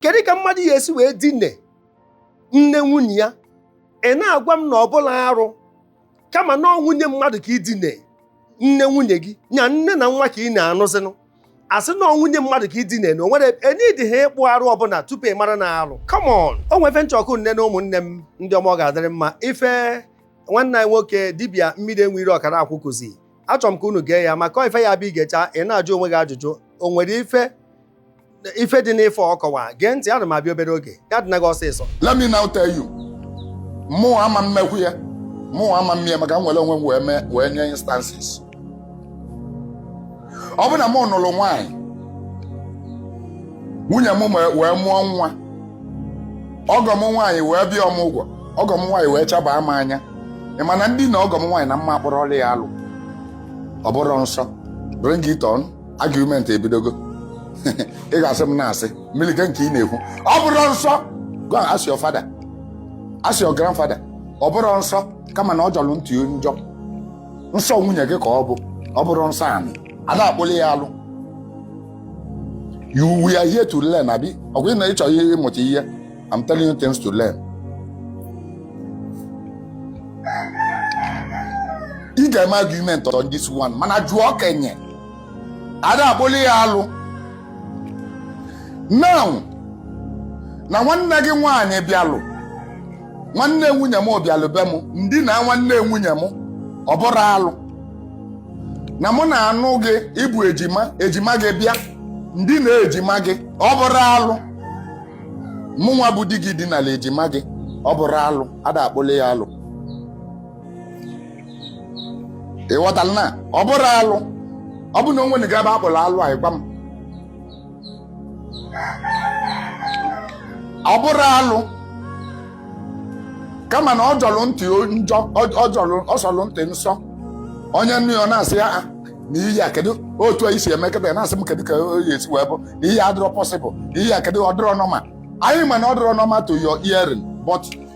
kedu ka mmadụ ya esi wee dine nne nwunye ya ị na-agwa m na ọ bụrọ arụ kama na ọ nwunye mmadụ ka i dine nne nwunye gị nya nne na nwa ka ị na-anụzinụ asị na ọ nwunye mmadụ ka i dine na o nwere enidi ha ịkpụ arụ ọbụla tupu ị mara na arụ come on o nwe ife nchọkụ nne na ụmụnne m ndị ọma ọ ga-adịrị mma ife nwanne anyị nwoke dibịa mmiri enwe iro ọkara akwụ kụzi achọrọ m ka unu gee ya maka ife ya bụ i gechaa ị na-ajụ onwe gị ajụjụ o nwere ife ife dị n'ife ọ kọwa gee ntị ana m abịa obere oge ya dịna gị ọsịsọ let me now tell you mụ ama mmekwu ya mụ ama mmie maka m were onwe m wee mee wee nye instances ọ bụ na mụ nụrụ nwaanyị nwunye m me- wee mụọ nwa ọgọ m nwaanyị wee bịa ọmụgwọ ọgọ m nwaanyị wee chabaa m anya ị ma na m dina ọgọ m nwaanyị na mma akpụrụ ọlị ya alụ ọ bụrọ nsọ bring it on argument ebidogo ị ga-asị m na-asị milike nke ị na-ekwu ọ bụrọ nsọ go and ask your father ask your grandfather ọ bụrọ nsọ kama na ọ jọrọ ntị njọ nsọ nwunye gị ka ọ bụ ọ bụrọ nsọ anị a da-akpụli ya alụ you we are here to learn abi ọ bụrụ na ị chọrọ ihe ịmụta ihe I'm telling you things to learn ị ga-eme argument on this one mana jụọ okenye a da-akpụli ya alụ now na nwanne gị nwaanyị bịalụ nwanne nwunye m bịalụ be m m dina nwanne nwunye m ọ bụrọ alụ na mụ na-anụ gị ị bụ ejima ejima gị bịa m dina ejima gị ọ bụrọ alụ mụ nwa bụ di gị dinala ejima gị ọ bụrọ alụ a da-akpụli ya alụ ị ghọtara na ọ bụrọ alụ ọ bụ na o nwego ebe akpụrụ alụ a ị gwa m ọ bụrọ alụ kama na ọ jọrọ ntị njọ ọ jọrọ ọ sọrọ ntị nsọ onye nụ ya ọ na-asị ya "Ah, na ihe a kedu otu anyị si eme kịtaa ya na-asị m kedu ka ọ ya-esi wee bụ na ihe a adịrọ possible na ihe a kedu ọ dịrọ normal anyị ma na ọ dịrọ normal to your hearing but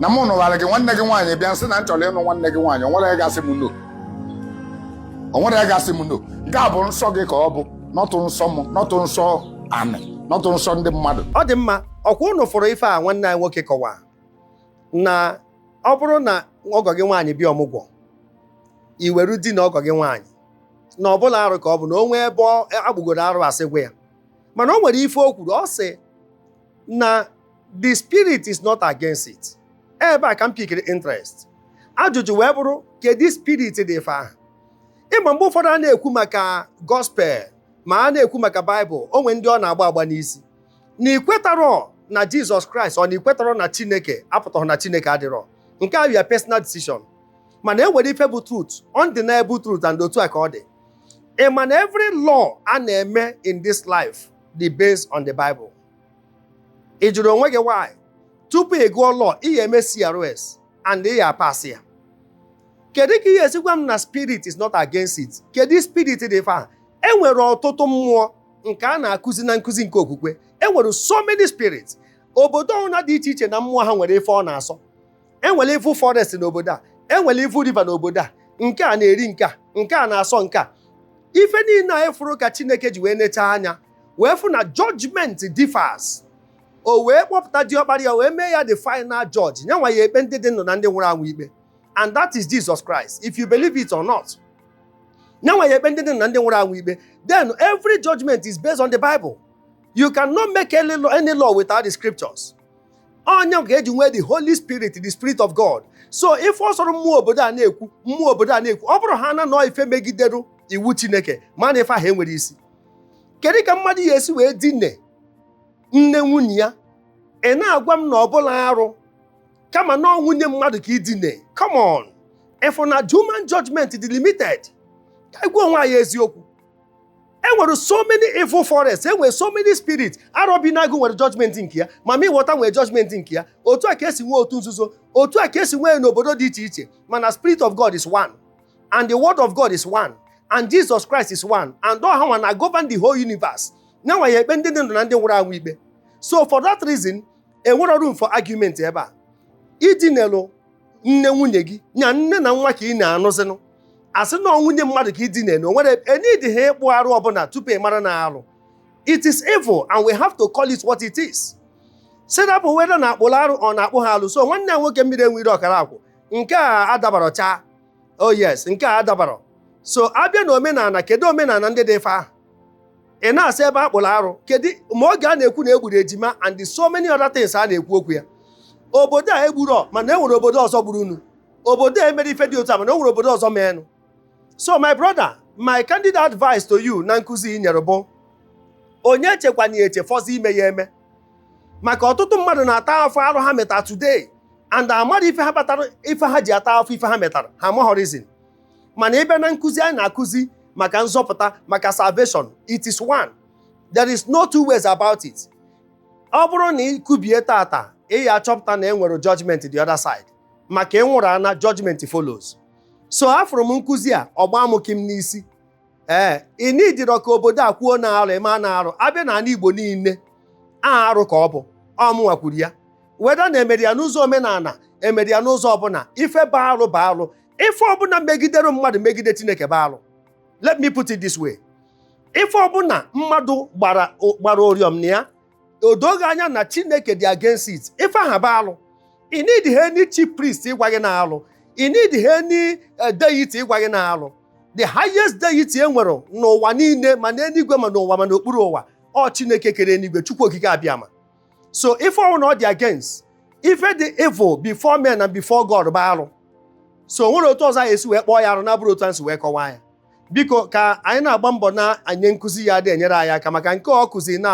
na mụ nụwara gị nwanne gị nwaanyị bịa m sị na m chọrọ ịnụ nwanne gị nwaanyị o nwerọ onye ga-asị m no o nwerọ onye ga-asị m no nke a bụ nsọ gị ka ọ bụ not nsọ m not nsọ anị not nsọ ndị mmadụ ọ dị mma ọkwa ụnụ fụrụ ife a nwanne anyị nwoke kọwa na ọ bụrụ na ọgọ gị nwaanyị bịa ọmụgwọ i were dina ọgọ gị nwaanyị na ọ bụrọ arụ ka ọ bụ na o nwee ebe akpụgoro arụ asị gwa ya mana o nwere ife o kwuru ọ sị na the spirit is not against it ebe a ka m pikiri interest ajụjụ wee bụrụ kedu spirit dị ife ahụ ị ma mgbe ụfọdụ a na-ekwu maka gospel ma a na-ekwu maka baịbụl o nwe ndị ọ na-agba agba n'isi na i kwetarọ na jizọs kraịst or na i kwetarọ na chineke apụtaghị na chineke adịrọ nke a your personal decision mana e nwere ife bụ truth undeniable truth and otu a ka ọ dị ị ma na every law a na-eme in this life dị based on the bible ị jụrụ onwe gị why tupu ị gụọ law ị ya eme CRS and ị ya pass ya kedu ka ị ya esi gwa m na spirit is not against it kedu spirit dị ife ahụ e nwere ọtụtụ mmụọ nke a na-akụzi na nkụzi nke okwukwe e nwere so many spirits obodo ọbụna dị iche iche na mmụọ ha nwere ife ọ na-asọ e nwere evil forest n'obodo a e nwere evil river n'obodo a nke a na-eri nke a nke a na-asọ nke a ife niile a ị fụrụ ka Chineke ji wee nechaa anya wee fụ na judgment differs o wee kpọpụta diọkpara ya wee mee ya the final judge nya nwa ya ekpe ndị dị ndụ na ndị nwụrụ anwụ ikpe and that is Jesus Christ if you believe it or not nya nwa ya ekpe ndị dị ndụ na ndị nwụrụ anwụ ikpe then every judgment is based on the Bible you cannot make any law, any law without the scriptures ọ nya ka e ji nwee the Holy Spirit the Spirit of God so ife ọ sọrọ mmụọ obodo a na-ekwu mmụọ obodo a na-ekwu ọ bụrụhaa na ọ ife megideru iwu Chineke mara na ife ahụ enwerọ isi kedu ka mmadụ ya esi wee dine nne nwunye ya ị na-agwa m na ọ bụrọ arụ kama na ọ nwunye mmadụ ka i dine come on ị fụ na human judgment dị limited ka anyị gwa onwe anyị eziokwu e nwere so many evil forests e nwere so many spirit arọbinagụ nwere judgment nke ya mami wọta nwere judgment nke ya otu a ka e si nwee otu nzuzo otu a ka e si nwee n'obodo dị iche iche mana spirit of god is one and the word of God is one and Jesus Christ is one and ọ ha na govern the whole universe nya nwa ya ekpe ndị dị ndụ na ndị nwụrụ anwụ ikpe so for that reason enwerọ room for argument ebe a i dinelụ nne nwunye gị nya nne na nwa ka ị na-anụzinụ a sị na nwunye mmadụ ka i dine na o nwerọ e needihọ ịkpụ arụ ọbụla tupu ị mara na arụ it is evil and we have to call it what it is. Sị rapụ whether na a kpụrụ arụ or na akpụhọ alụ so nwanne ya nwoke mmiri enwerọ ọkara akwụ nke a adabarọ chaa oh yes nke a adabarọ so a bịa na omenala kedu omenala ndị dị ife ahụ ị na-asị ebe a kpụrụ arụ kedu maka oge a na-ekwu na e gburu ejima and so many other things a na-ekwu okwu ya obodo a egburọ mana e nwere obodo ọzọ gburunụ obodo a emerọ ife dị otu a mana e nwere obodo ọzọ meenụ so my brother my candid advice to you na nkụzi ị nyere bụ onye echekwana eche fọzi ime ya eme maka ọtụtụ mmadụ na-ata afụfụ arụ ha metara today and amarọ ife ha batara ife ha ji ata afụfụ ife ha metara ha amaghọrizin mana ị bịa na nkụzi anyị na-akụzi maka nzọpụta maka salvation it is one there is no two ways about it ọ bụrụ na ị kubie tata ị ya-achọpụta na e nwere judgment the other side maka ị nwụrụ ana judgment follows so afụrụ m nkụzi a ọ gbaa m kịm n'isi ee ị nidirọ ka obodo a kwuo na arụ ị ma na arụ a bịa n'ala igbo niile aha arụ ka ọ bụ ọ mụnwa kwuru ya whether na e mere ya n'ụzọ omenala e mere ya n'ụzọ ọbụla ife bụ arụ bụ arụ ife ọbụla megidere mmadụ megide chineke bụ arụ let me put it this way ife ọbụla mmadụ gbara gbara oriọm na ya o doo gị anya na chineke dị against it ife aha bụ alụ ị need ha any chief priest ịgwa gị na alụ ị need ha any eh, deity ịgwa gị na alụ the highest deity e nwere n'ụwa niile ma n'eluigwe ma n'ụwa ma n'okpuru ụwa ọ chineke kere eluigwe chukwu okike abịama so ife ọbụna ọ dị against ife dị evil before men and before God bụ alụ so o nwerọ otu ọzọ anyị esi wee kpọọ ya arụ na-abụrọ otu anyị si wee kọwaa ya biko ka anyị na-agba mbọ na-anye nkụzi ya-adị enyere anyị aka maka nke ọ kụzi na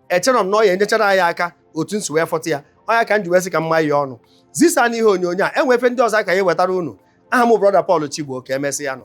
echere m na ọ ya-enyechara anyị aka otu m si wee fụta ya ọ ya ka m ji wee sị ka m maa ya ọnụ zisa n'ihe onyonyo a e nwee ife ndị ọzọ ka anyị wetara unu aha m brọda Paul Chigbo ka emesịa nụ